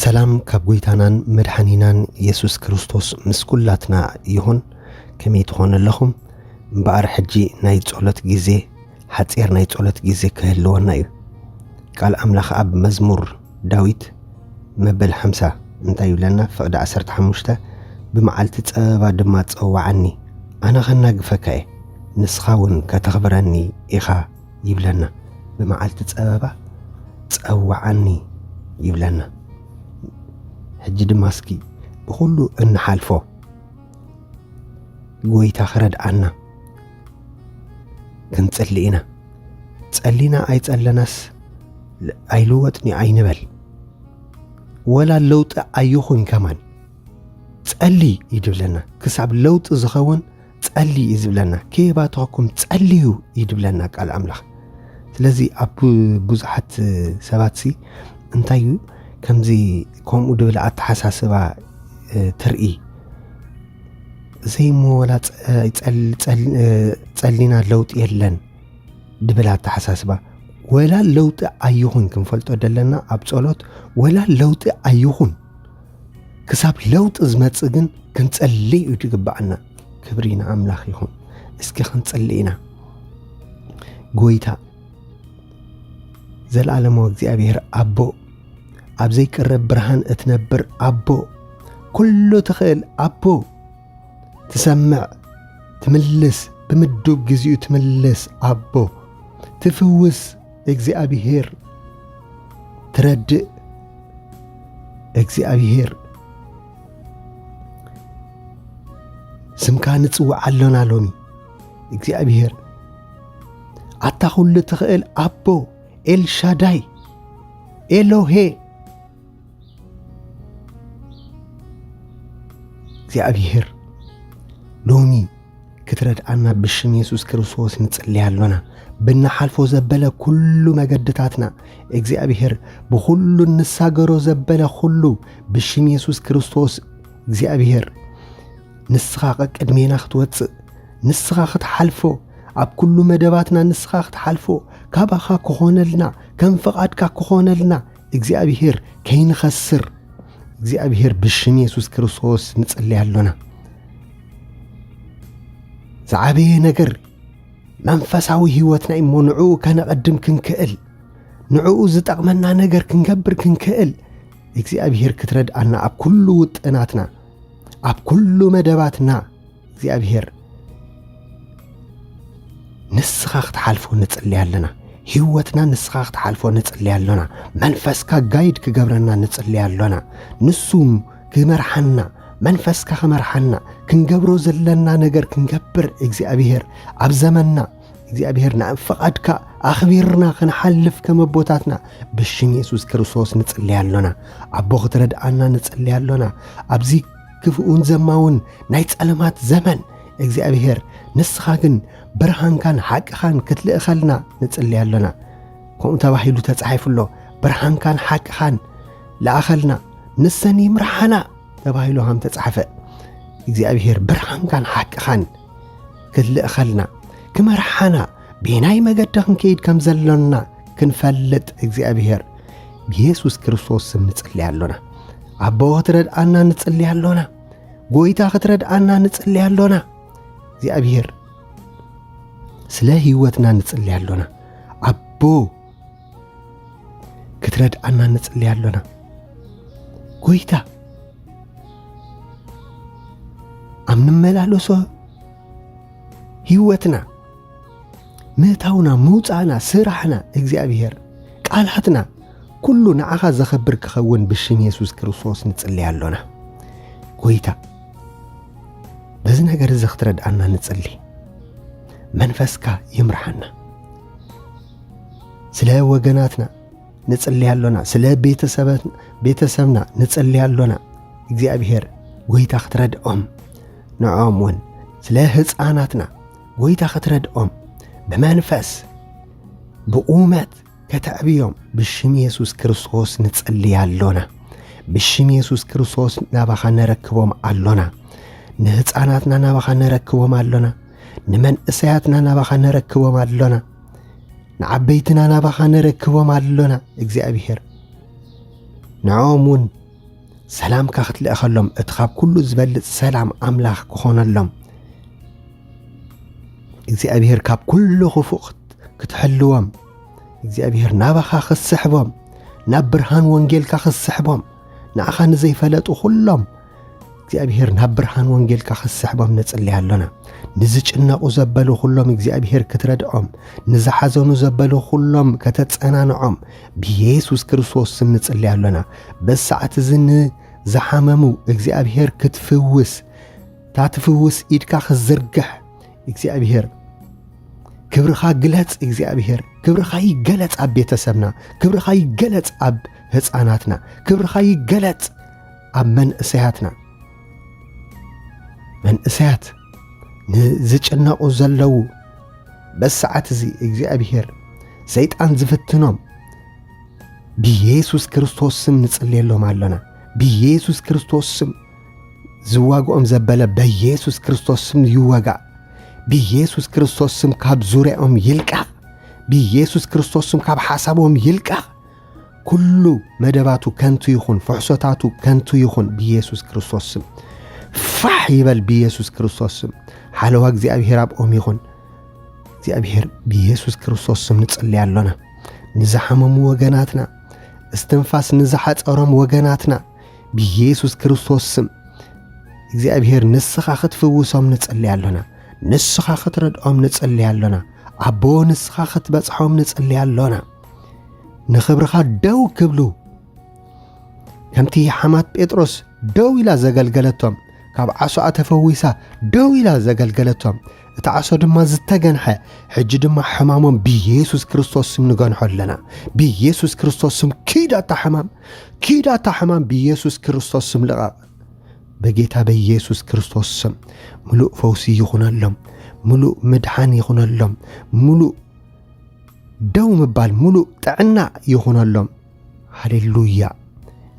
ሰላም ካብ ጎይታናን መድሓኒናን የሱስ ክርስቶስ ምስ ኩላትና ይኹን ከመይ ትኾኑ ኣለኹም እምበኣር ሕጂ ናይ ጸሎት ግዜ ሓጺር ናይ ጸሎት ግዜ ክህልወና እዩ ቃል ኣምላኽ ኣብ መዝሙር ዳዊት መበል ሓምሳ እንታይ ይብለና ፍቕዲ ዓሰርተ ሓሙሽተ ብመዓልቲ ጸበባ ድማ ጸውዓኒ ኣነ ከናግፈካ'የ ንስኻ ውን ከተኽብረኒ ኢኻ ይብለና ብመዓልቲ ጸበባ ጸውዓኒ ይብለና ሕጂ ድማ እስኪ ብኹሉ እንሓልፎ ጎይታ ክረድኣና ክንጽሊ ኢና ጸሊና ኣይጸለናስ ኣይልወጥኒ ኣይንበል ወላ ለውጢ ኣይኹን ከማን ጸሊ እዩ ድብለና ክሳብ ለውጢ ዝኸውን ጸሊ እዩ ዝብለና ከየባተኸኩም ጸልዩ እዩ ድብለና ቃል ኣምላኽ ስለዚ ኣብ ብዙሓት ሰባት ሲ እንታይ እዩ ከምዚ ከምኡ ድብል ኣተሓሳስባ ትርኢ ዘይሞ ወላ ጸሊና ለውጢ የለን ድብል ኣተሓሳስባ ወላ ለውጢ ኣይኹን ክንፈልጦ ደለና ኣብ ጸሎት ወላ ለውጢ ኣይኹን ክሳብ ለውጢ ዝመጽእ ግን ክንጸሊ እዩ ዝግባኣና ክብሪ ንኣምላኽ ይኹን እስኪ ክንጽሊ ኢና ጎይታ ዘለዓለማዊ እግዚኣብሔር ኣቦ ኣብ ዘይቅረብ ብርሃን እትነብር ኣቦ ኩሉ ትኽእል ኣቦ ትሰምዕ ትምልስ ብምዱብ ግዚኡ ትምልስ ኣቦ ትፍውስ እግዚኣብሄር ትረድእ እግዚኣብሄር ስምካ ንጽውዕ ኣሎና ሎሚ እግዚኣብሄር ኣታ ኩሉ ትኽእል ኣቦ ኤልሻዳይ ኤሎሄ እግዚኣብሔር ሎሚ ክትረድኣና ብሽም የሱስ ክርስቶስ ንጽልይ ኣሎና ብናሓልፎ ዘበለ ኩሉ መገድታትና እግዚኣብሔር ብኹሉ ንሳገሮ ዘበለ ኹሉ ብሽም የሱስ ክርስቶስ እግዚኣብሔር ንስኻ ቀቅድሜና ክትወፅእ ንስኻ ክትሓልፎ ኣብ ኩሉ መደባትና ንስኻ ክትሓልፎ ካባኻ ክኾነልና ከም ፍቓድካ ክኾነልና እግዚኣብሔር ከይንኸስር እግዚኣብሔር ብሽም የሱስ ክርስቶስ ንጽለይ ኣሎና ዝዓበየ ነገር መንፈሳዊ ህይወትና እሞ ንዕኡ ከነቐድም ክንክእል ንዕኡ ዝጠቕመና ነገር ክንገብር ክንክእል እግዚኣብሔር ክትረድኣና ኣብ ኩሉ ውጥናትና ኣብ ኩሉ መደባትና እግዚኣብሔር ንስኻ ክትሓልፎ ንጽሊ ኣለና ህይወትና ንስኻ ክትሓልፎ ንጽሊ ኣሎና መንፈስካ ጋይድ ክገብረና ንጽሊ ኣሎና ንሱ ክመርሓና መንፈስካ ክመርሓና ክንገብሮ ዘለና ነገር ክንገብር እግዚኣብሔር ኣብ ዘመንና እግዚኣብሔር ናብ ፈቓድካ ኣኽቢርና ክንሓልፍ ከም ኣቦታትና ብሽም የሱስ ክርስቶስ ንጽልይ ኣሎና ኣቦ ክትረድኣና ንጽልይ ኣሎና ኣብዚ ክፍኡን ዘማውን ናይ ጸለማት ዘመን እግዚኣብሔር ንስኻ ግን ብርሃንካን ሓቅኻን ክትልእኸልና ንጽልይ ኣሎና ከምኡ ተባሂሉ ተጻሒፉ ኣሎ ብርሃንካን ሓቅኻን ለኣኸልና ንሰን ይምርሓና ተባሂሉ ሃም ተጻሕፈ እግዚኣብሔር ብርሃንካን ሓቅኻን ክልእኸልና ክመርሓና ቤናይ መገዲ ክንከይድ ከም ዘሎና ክንፈልጥ እግዚኣብሔር ብየሱስ ክርስቶስ ስም ንጽልይ ኣሎና ኣቦ ክትረድኣና ንጽልይ ኣሎና ጎይታ ክትረድኣና ንጽልይ ኣሎና እግዚኣብሔር ስለ ህይወትና ንጽልይ ኣሎና ኣቦ ክትረድኣና ንጽሊ ኣሎና ጐይታ ኣብ ንመላለሶ ህይወትና ምእታውና ምውፃእና ስራሕና እግዚኣብሔር ቃላትና ኩሉ ንዓኻ ዘኸብር ክኸውን ብሽም የሱስ ክርስቶስ ንጽሊ ኣሎና ጐይታ በዚ ነገር እዚ ክትረድኣና ንጽሊ መንፈስካ ይምርሓና ስለ ወገናትና ንጽልይ ኣሎና፣ ስለ ቤተሰብና ንጽልይ ኣሎና። እግዚኣብሔር ጐይታ ክትረድኦም ንዕኦም እውን ስለ ህፃናትና ጐይታ ክትረድኦም ብመንፈስ ብቑመት ከተዕብዮም ብሽም የሱስ ክርስቶስ ንጽልይ ኣሎና። ብሽም የሱስ ክርስቶስ ናባኻ ነረክቦም ኣሎና። ንህፃናትና ናባኻ ነረክቦም ኣሎና። ንመንእሰያትና ናባኻ ነረክቦም ኣሎና፣ ንዓበይትና ናባኻ ነረክቦም ኣሎና። እግዚኣብሔር ንዕኦም እውን ሰላምካ ክትልእኸሎም እቲ ካብ ኩሉ ዝበልፅ ሰላም ኣምላኽ ክኾነሎም እግዚኣብሔር ካብ ኩሉ ክፉእ ክትሕልዎም እግዚኣብሔር ናባኻ ክትስሕቦም ናብ ብርሃን ወንጌልካ ክትስሕቦም ንዓኻ ንዘይፈለጡ ዅሎም እግዚኣብሔር ናብ ብርሃን ወንጌልካ ኽስሕቦም ንጽልይ ኣሎና ንዝጭነቑ ዘበሉ ዅሎም እግዚኣብሔር ክትረድዖም ንዝሓዘኑ ዘበሉ ዅሎም ከተጸናንዖም ብየሱስ ክርስቶስ ስም ንጽልይ ኣሎና በዚ ሰዓት እዚ ንዝሓመሙ እግዚኣብሔር ክትፍውስ እታ ትፍውስ ኢድካ ክትዝርግሕ እግዚኣብሔር ክብርኻ ግለጽ እግዚኣብሔር ክብርኻ ይገለጽ ኣብ ቤተሰብና ክብርኻ ይገለጽ ኣብ ህፃናትና ክብርኻ ይገለጽ ኣብ መንእሰያትና መንእሰያት ንዝጭነቑ ዘለዉ በሰዓት እዚ እግዚኣብሔር ሰይጣን ዝፍትኖም ብየሱስ ክርስቶስ ስም ንጽልየሎም ኣሎና ብየሱስ ክርስቶስ ስም ዝዋግኦም ዘበለ በየሱስ ክርስቶስ ስም ይወጋእ ብየሱስ ክርስቶስ ስም ካብ ዙርያኦም ይልቃቕ ብየሱስ ክርስቶስ ስም ካብ ሓሳቦም ይልቃቕ ኩሉ መደባቱ ከንቱ ይኹን፣ ፍሕሶታቱ ከንቱ ይኹን ብኢየሱስ ክርስቶስ ስም ፋሕ ይበል፣ ብኢየሱስ ክርስቶስ ስም ሓለዋ እግዚኣብሔር ኣብኦም ይኹን። እግዚኣብሔር ብኢየሱስ ክርስቶስ ስም ንጽልይ ኣሎና ንዝሓመሙ ወገናትና፣ እስትንፋስ ንዝሓጸሮም ወገናትና ብኢየሱስ ክርስቶስ ስም እግዚኣብሔር ንስኻ ክትፍውሶም ንጽልይ ኣሎና። ንስኻ ክትረድኦም ንጽልይ ኣሎና። ኣቦ ንስኻ ክትበጽሖም ንጽልይ ኣሎና። ንኽብርኻ ደው ክብሉ ከምቲ ሓማት ጴጥሮስ ደው ኢላ ዘገልገለቶም ካብ ዓሶኣ ተፈዊሳ ደው ኢላ ዘገልገለቶም እቲ ዓሶ ድማ ዝተገንሐ ሕጂ ድማ ሕማሞም ብየሱስ ክርስቶስ ስም ንገንሖ ኣለና ብየሱስ ክርስቶስ ስም ኪዳታ ሕማም ኪዳታ ሕማም ብየሱስ ክርስቶስ ስም ልቐቕ በጌታ በየሱስ ክርስቶስ ስም ምሉእ ፈውሲ ይኹነሎም ምሉእ ምድሓን ይኹነሎም ምሉእ ደው ምባል ሙሉእ ጥዕና ይኹነሎም። ሃሌሉያ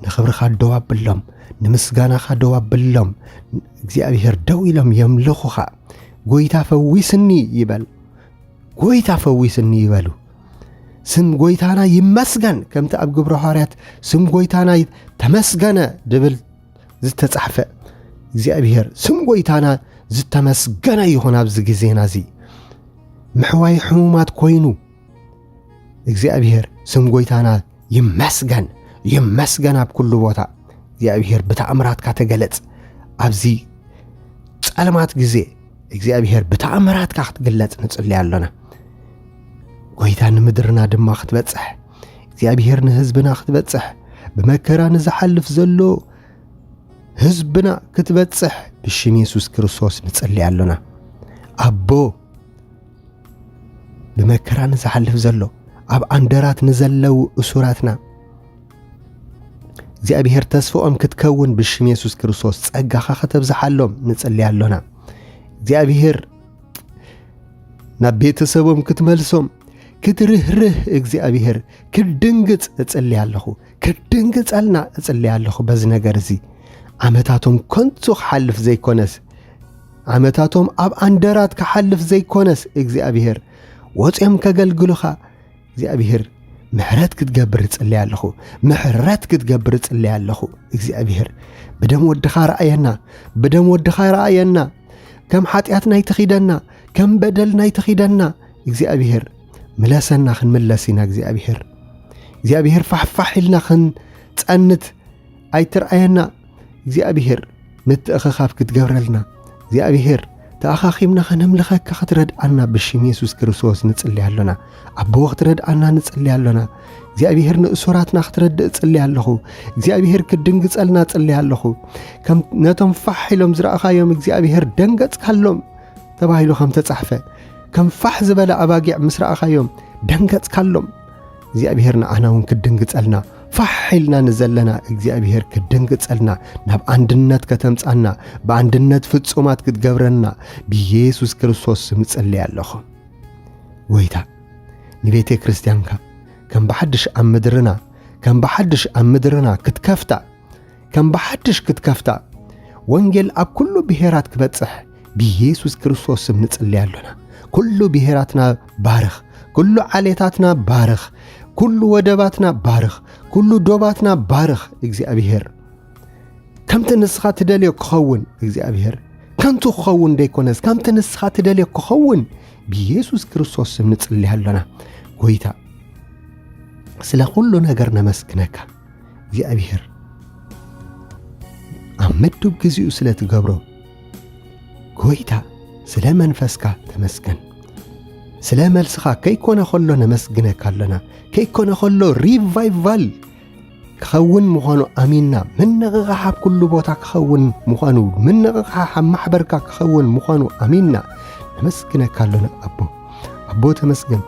ንኽብርኻ ደው ኣብሎም ንምስጋናኻ ደው ኣብሎም እግዚኣብሔር ደው ኢሎም የምልኹኻ ጎይታ ፈዊስኒ ይበል ጎይታ ፈዊስኒ ይበሉ ስም ጎይታና ይመስገን ከምቲ ኣብ ግብረ ሃዋርያት ስም ጎይታና ተመስገነ ድብል ዝተጻሕፈ እግዚኣብሔር ስም ጎይታና ዝተመስገነ ይኹን ኣብዚ ግዜና እዚ ምሕዋይ ሕሙማት ኮይኑ እግዚኣብሔር ስም ጎይታና ይመስገን ይመስገን ኣብ ኩሉ ቦታ እግዚኣብሔር ብተኣምራትካ ተገለጽ ኣብዚ ጸልማት ግዜ እግዚኣብሔር ብተኣምራትካ ክትግለጽ ንጽልይ ኣሎና ጎይታ ንምድርና ድማ ክትበጽሕ እግዚኣብሔር ንህዝብና ክትበጽሕ ብመከራ ንዝሓልፍ ዘሎ ህዝብና ክትበጽሕ ብሽም የሱስ ክርስቶስ ንጽሊ ኣሎና ኣቦ ብመከራ ንዝሓልፍ ዘሎ ኣብ ኣንደራት ንዘለው እሱራትና እግዚኣብሔር ተስፍኦም ክትከውን ብሽም የሱስ ክርስቶስ ጸጋኻ ከተብዝሓሎም ንጽሊ ኣሎና እግዚኣብሔር ናብ ቤተሰቦም ክትመልሶም ክትርህርህ እግዚኣብሔር ክድንግፅ እጽሊ ኣለኹ ክድንግፀልና እጽሊ ኣለኹ በዚ ነገር እዚ ዓመታቶም ከንቱ ክሓልፍ ዘይኮነስ ዓመታቶም ኣብ ኣንደራት ክሓልፍ ዘይኮነስ እግዚኣብሔር ወፅኦም ከገልግሉኻ እግዚኣብሔር ምሕረት ክትገብር እጽለይ ኣለኹ ምሕረት ክትገብር እጽለይ ኣለኹ እግዚኣብሔር ብደም ወድኻ ረኣየና ብደም ወድኻ ረኣየና ከም ሓጢኣት ናይ ተኺደና ከም በደል ናይ ተኺደና እግዚኣብሔር ምለሰና ክንምለስ ኢና እግዚኣብሔር እግዚኣብሔር ፋሕፋሕ ኢልና ክንጸንት ኣይትርኣየና እግዚኣብሄር ምትእኽኻብ ክትገብረልና እግዚኣብሄር ተኣኻኺብና ከነምልኸካ ክትረድኣና ብሽም የሱስ ክርስቶስ ንጽልያ ኣሎና ኣቦ ክትረድኣና ንጽልያ ኣሎና እግዚኣብሄር ንእሱራትና ክትረድእ ጽልያ ኣለኹ እግዚኣብሄር ክድንግጸልና ጽልያ ኣለኹ ከም ነቶም ፋሕ ኢሎም ዝረእኻዮም እግዚኣብሄር ደንገጽካሎም ተባሂሉ ከም ተጻሕፈ ከም ፋሕ ዝበለ ኣባጊዕ ምስ ረኣኻዮም ደንገጽካሎም እግዚኣብሔር ንዓና እውን ክድንግጸልና ፋሕ ኢልና ንዘለና እግዚኣብሔር ክድንግጸልና ናብ ኣንድነት ከተምጻና ብኣንድነት ፍጹማት ክትገብረና ብኢየሱስ ክርስቶስ ስም እጽልይ ኣለኹ ወይታ ንቤተ ክርስቲያንካ ከም ብሓድሽ ኣብ ምድርና ከም ብሓድሽ ኣብ ምድርና ክትከፍታ ከም ብሓድሽ ክትከፍታ ወንጌል ኣብ ኩሉ ብሔራት ክበጽሕ ብኢየሱስ ክርስቶስ ስም ንጽልይ ኣሎና። ኩሉ ብሔራትና ባርኽ፣ ኩሉ ዓሌታትና ባርኽ፣ ኩሉ ወደባትና ባርኽ፣ ኩሉ ዶባትና ባርኽ እግዚኣብሔር። ከምቲ ንስኻ ትደልዮ ክኸውን እግዚኣብሔር ከንቱ ክኸውን ዘይኮነስ ከምቲ ንስኻ ትደልዮ ክኸውን ብኢየሱስ ክርስቶስ ስም ንጽልይ ኣሎና። ጎይታ ስለ ኩሉ ነገር ነመስግነካ። እግዚኣብሔር ኣብ ምዱብ ግዚኡ ስለ ትገብሮ ጎይታ ስለ መንፈስካ ተመስገን ስለ መልስኻ ከይኮነ ከሎ ነመስግነካ ኣሎና ከይኮነ ከሎ ሪቫይቫል ክኸውን ምዃኑ ኣሚንና ምንቕቓሕ ኣብ ኩሉ ቦታ ክኸውን ምዃኑ ምንቕቓሕ ኣብ ማሕበርካ ክኸውን ምዃኑ ኣሚንና ነመስግነካ ኣሎና ኣቦ ኣቦ ተመስገን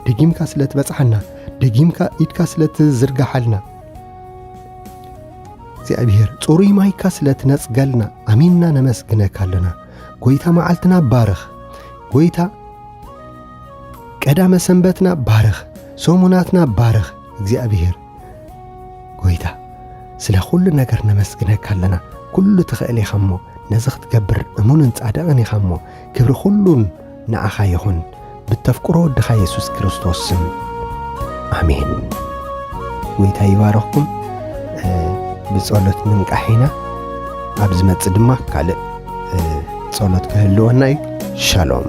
ደጊምካ ስለ ትበጽሓና ደጊምካ ኢድካ ስለ ትዝርግሓልና እግዚኣብሔር ጽሩይ ማይካ ስለ ትነጽገልና ኣሚንና ነመስግነካ ኣለና ጐይታ መዓልትና ባርኽ ጐይታ ቀዳመ ሰንበትና ባርኽ ሰሙናትና ባርኽ እግዚኣብሔር ጐይታ ስለ ዅሉ ነገር ነመስግነካ ኣለና ኵሉ ትኽእል ኢኻ እሞ ነዚ ኽትገብር እሙንን ጻድቕን ኢኻ እሞ ክብሪ ዅሉን ንዓኻ ይኹን ብተፍቅሮ ወድኻ የሱስ ክርስቶስ ስም ኣሜን። ጎይታ ይባረኽኩም። ብጸሎት ምንቃሕ ኢና ኣብ ዝመጽእ ድማ ካልእ ጸሎት ክህልወና እዩ። ሻሎም